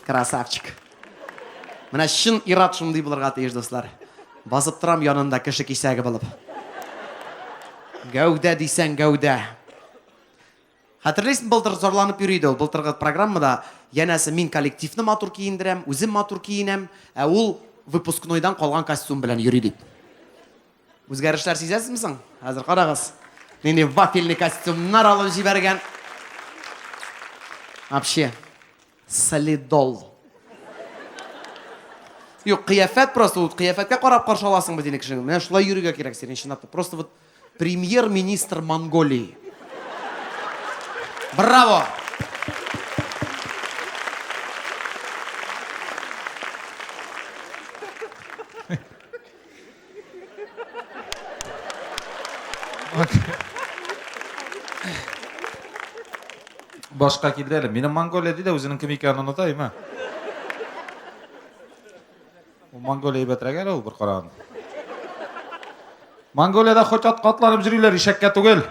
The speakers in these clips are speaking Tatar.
Красавчик. Менә чын ират шундый булырга тиеш, дуслар. Басып торам янында кеше кисәге булып. Гәүдә дисәң гәүдә. Хәтерлисең, былтыр зарланып йөри иде ул, былтыргы программада, янәсе мин коллективны матур киендерәм, үзем матур киенәм, ә ул выпускнойдан калган костюм белән йөри дип. Үзгәрешләр сизәсезме соң? Хәзер карагыз. Нинди вафельный костюмнар алып җибәргән. Вообще, солидол. Юк, кыяфәт просто, вот кыяфәткә карап каршы аласың бит инде кешене. Менә шулай йөрергә кирәк синең чынлап та. Просто вот премьер-министр Монголии. Браво! Башка килде әле. Минем Монголия ди дә үзенең кем икәнен оныта, имә. Ул Монголия әйбәтрәк әле ул бер караган. Монголиядә хоть атка атланып йөриләр, ишәккә түгел.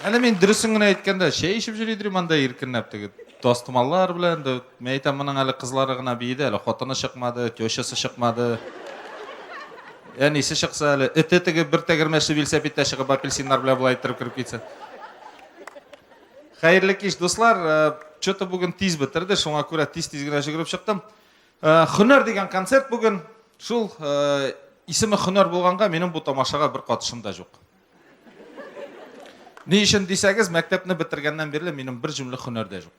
Әнә мин дөресен генә әйткәндә, чәй ишеп йөри дирим анда иркенләп теге тастымаллар белән. Дә, мин әйтәм, моның әле кызлары гына биеде, әле хатыны чыкмады, тещасы чыкмады. Әнисе чыкса әле, эте теге бер тәгәрмәчле велосипедта чыгып апельсиннар белән болай иттереп кереп китсә. Хәерле кич, дуслар. Э, Что-то бүген тиз бетерде, шуңа күрә тиз-тиз генә жүгереп чыктым. Э, Хөнәр дигән концерт бүген. Шул э, исеме Хөнәр булганга, минем бу тамашага бер катышым да юк. Ни өчен дисәгез, мәктәпне бетергәннән бирле минем бер җүнлек һөнәр дә юк.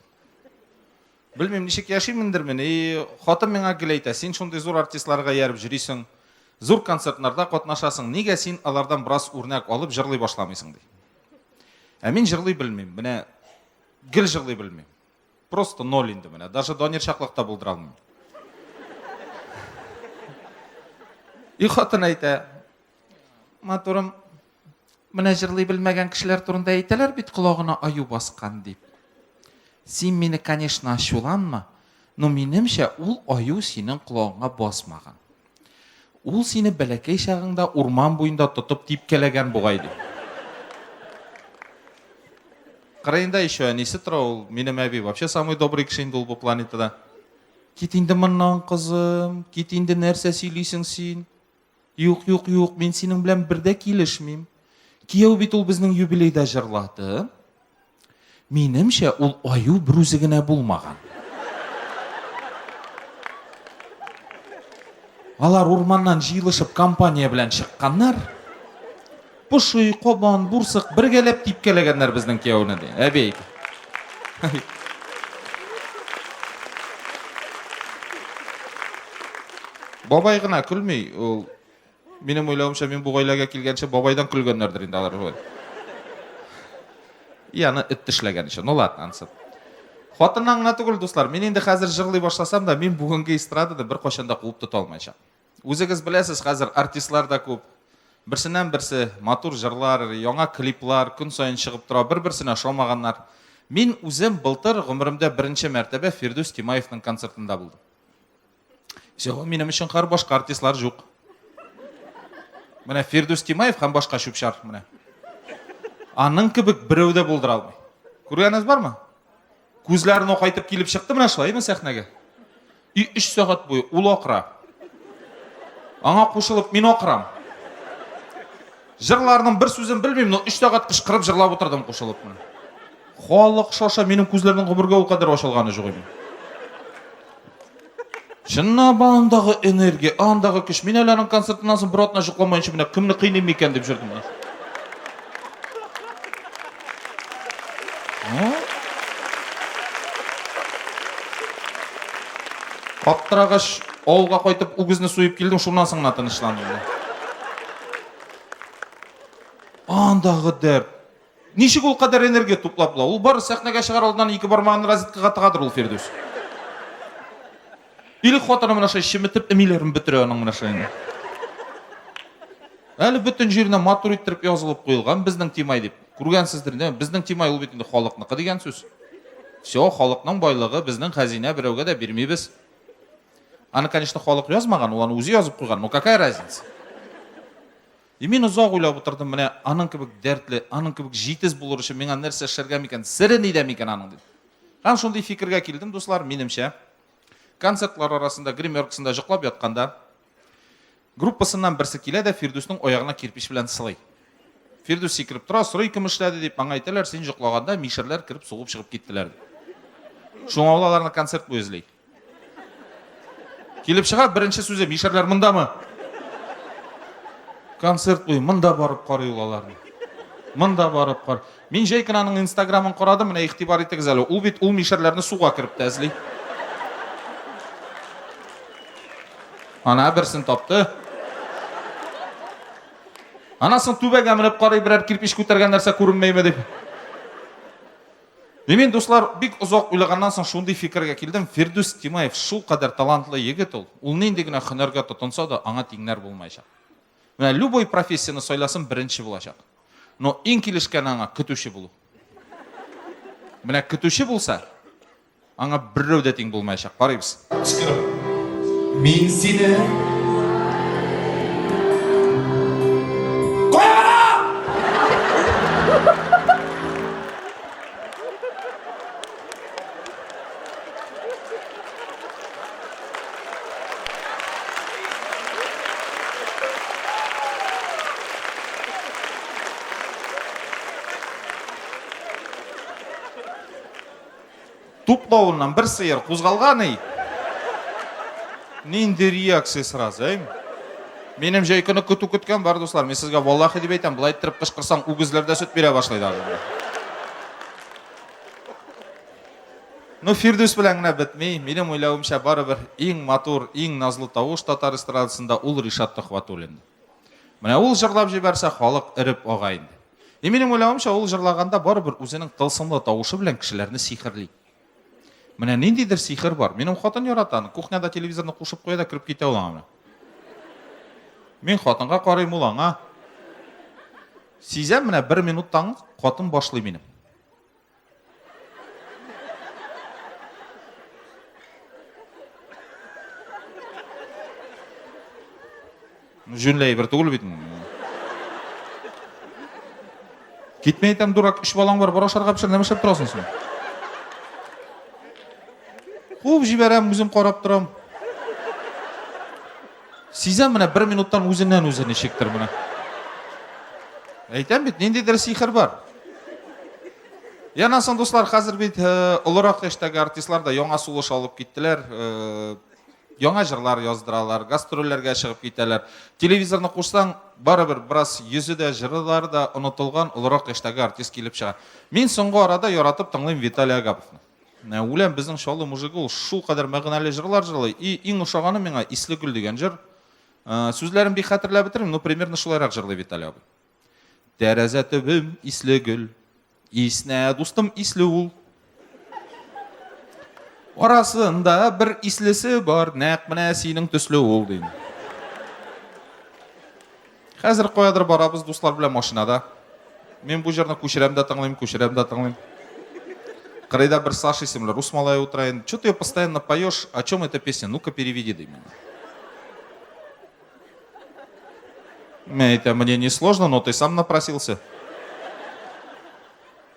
Белмим, ничек яшимендермен. И, хатын миңа гел әйтә, син шундый зур артистларга ярып җөрисең, зур концертларда катнашасың, нигә син алардан бераз үрнәк алып җырлый башламыйсың ди. Ә мин җырлый белмим, менә гел җырлый белмим. Просто ноль инде менә, даже Данир чаклыкта булдыра алмыйм. И хатын әйтә, Матурым, менә җырлый белмәгән кешеләр турында әйтәләр бит колагына аю баскан дип. Син мине, конечно, ачуланма, но минемчә ул аю синең колагыңа басмаган. Ул сине бәләкәй чагыңда урман буенда тотып типкәләгән бугай ди. Кырыенда еще әнисе тора ул, минем әби вообще самый добрый кеше инде ул бу планетада. Кит инде моннан, кызым, кит инде нәрсә сөйлисең син? Юк, юк, юк, мин синең белән бер дә килешмим. Кияү бит ул безнең юбилейда җырлады. Минемчә, ул аю бер үзе генә булмаган. Алар урманнан җыелышып компания белән чыкканнар. Поши, кабан, бурсык бергәләп типкәләгәннәр безнең кияүне, ди. Әби әйтә. Бабай гына көлми. Ул минем уйлавымча, мин бу гаиләгә килгәнче бабайдан көлгәннәрдер инде алар. И аны эт тешләгән өчен. Ну ладно, ансы. Хатыннан гына түгел, дуслар. Мин инде хәзер җырлый башласам да, мин бүгенге эстрадада беркайчан да куып тота алмаячак. Үзегез беләсез, хәзер артистлар да күп. Берсеннән-берсе матур җырлар, яңа клиплар көн саен чыгып тора, бер-берсенә ошамаганнар. Мин үзем былтыр гомеремдә беренче мәртәбә Фирдүс Тимаевның концертында булдым. Всего минем өчен хәр башка артистлар җук. Менә Фирдүс Тимаев һәм башка чүпчар менә. Аның кебек берәү дә булдыра алмый. Күргәнегез бармы? Күзләрен акайтып килеп чыкты менә шулай ме сәхнәгә? И өч сәгать буе ул акыра. Аңа кушылып мин акырам. Җырларның бер сүзен белмим, но өч сәгать кычкырып җырлап утырдым кушылып мен. Халык шаша, минем күзләрнең гомергә ул кадәр ачылганы юк иде. Чыннан ба андагы энергия, андагы көч. Мин әле аның концертыннан соң бер атна җыкламаенча менә кемне кыйныйм микән дип җөрдем. Аптырагач, авылга кайтып үгезне суеп килдем, шуннан соң гына тынычландым. Андагы дәрт. Ничек ул кадәр энергия туплап була? Ул бары сәхнәгә чыгар алдыннан ике бармагын розеткага тыгадыр ул Фирдүс. Или хатыны менә шулай чеметеп эмиләрен бетерә аның менә шулай. Әле бөтен җиренә матур иттереп язылып куелган безнең Тимай дип. Күргәнсездер инде, безнең Тимай ул бит инде халыкныкы дигән сүз. Все, халыкның байлыгы, безнең хәзинә берәүгә дә бирмибез. Аны, конечно, халык язмаган, ул аны үзе язып куйган. Ну какая разница? И мин озак уйлап утырдым, менә аның кебек дәртле, аның кебек җитез булыр өчен миңа нәрсә эшләргә микән, сере нидә микән аның дип. Һәм шундый фикергә килдем, дуслар, минемчә, концертлар арасында, гримеркасында җоклап ятканда, группасыннан берсе килә дә Фирдүснең аягына кирпич белән сылый. Фирдүс сикереп тора, сорый, кем эшләде дип, аңа әйтәләр, син җоклаганда мишәрләр кереп сугып чыгып киттеләр дип. Шуңа ул аларны концерт буе эзли. Килеп чыга, беренче сүзе, мишәрләр мондамы? Концерт буе монда барып карый ул аларны. Монда барып кар. Мин җәй кенә аның инстаграмын карадым, менә игътибар итегез әле. Ул бит ул мишәрләрне суга кереп тә эзли. Ана берсен тапты. Анасын түбәгә менеп карый, берәр кирпич күтәргән нәрсә күренмәйме дип. И мин, дуслар, бик озак уйлаганнан соң шундый фикергә килдем, Фирдүс Тимаев шул кадәр талантлы егет ул, ул нинди генә хөнәргә тотынса да, аңа тиңнәр булмаячак. Менә любой профессияне сайласын, беренче булачак. Но иң килешкәне аңа көтүче булу. Менә көтүче булса, Аңа беррәү дә тиң булмаячак. Карыйбыз. Кычкырып. Мин сине Туплавыннан бер сыер кузгалган и. Нинди реакция сразу, әй? Минем җәй көне көтү көткән бар, дуслар. Мин сезгә валлахи дип әйтәм, болай иттереп кычкырсаң, үгезләр дә сөт бирә башлый да. Ну, Фирдүс белән генә бетми. Минем уйлавымча, барыбер иң матур, иң назлы тавыш татар эстрадасында ул Ришат Төхвәтуллин. Менә ул җырлап җибәрсә, халык эреп ага инде. И минем уйлавымча, ул җырлаганда барыбер үзенең тылсымлы тавышы белән кешеләрне сихерли. Менә ниндидер сихер бар. Минем хатын ярата аны. Кухняда телевизорны кушып куя да кереп китә ул аңа менә. Мин хатынга карыйм, ул аңа. Сизәм, менә бер минуттан хатын башлый минем. Җүнләй бер түгел бит. Китмә әйтәм, дурак, үч балаң бар, бара ашарга пешер, нәмә эшләп торасың син? Куып җибәрәм, үзем карап торам. Сизәм менә бер минуттан үзеннән үзе ничектер менә. Әйтәм бит, ниндидер сихер бар. Яна соң, дуслар, хәзер бит э, олырак яшьтәге артистлар да яңа сулыш алып киттеләр. Э, яңа җырлар яздыралар, гастрольләргә чыгып китәләр. Телевизорны кушсаң, барыбер бераз йөзе дә, җырлары да онытылган олырак яшьтәге артист килеп чыга. Мин соңгы арада яратып тыңлыйм Виталий Агаповны. Ә үләм безнең Чаллы мужигы ул шул кадәр мәгънәле җырлар җырлый. И иң ошаганы миңа Исле гөл дигән җыр. Ә, Сүзләрен бик хәтерләп бетермим, но примерно шулайрак җырлый Виталий абый. Тәрәзә төбем исле гөл. Иснә дустым исле ул. Арасында бер ислесе бар, нәкъ менә синең төсле ул, дим. Хәзер каядыр барабыз дуслар белән машинада. Мин бу җырны күчерәм дә тыңлыйм, күчерәм дә тыңлыйм. Кырыйда бер Саша исемле рус малае утыра инде. Чё ты ее постоянно поешь? О чем эта песня? Ну-ка переведи, ди миңа. Мен әйтәм, мне не сложно, но ты сам напросился.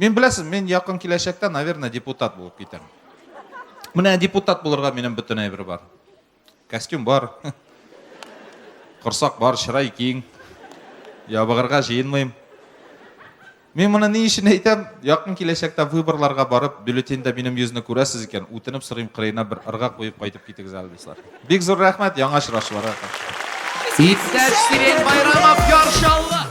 Мин беләсез, мин якын киләчәктә, наверное, депутат булып китәм. Менә депутат булырга минем бөтен әйбер бар. Костюм бар. Корсак бар, чырай киң. Ябыгырга җыенмыйм. Мин моны ни өчен әйтәм? Якын киләчәктә выборларга барып, бюллетеньдә минем йөзне күрәсез икән, үтенеп сорыйм, кырыена бер ырга куеп кайтып китегез әле, дуслар. Бик зур рәхмәт, яңа очрашуларга. Иптәш Сирень Байрамов, Яршаллы!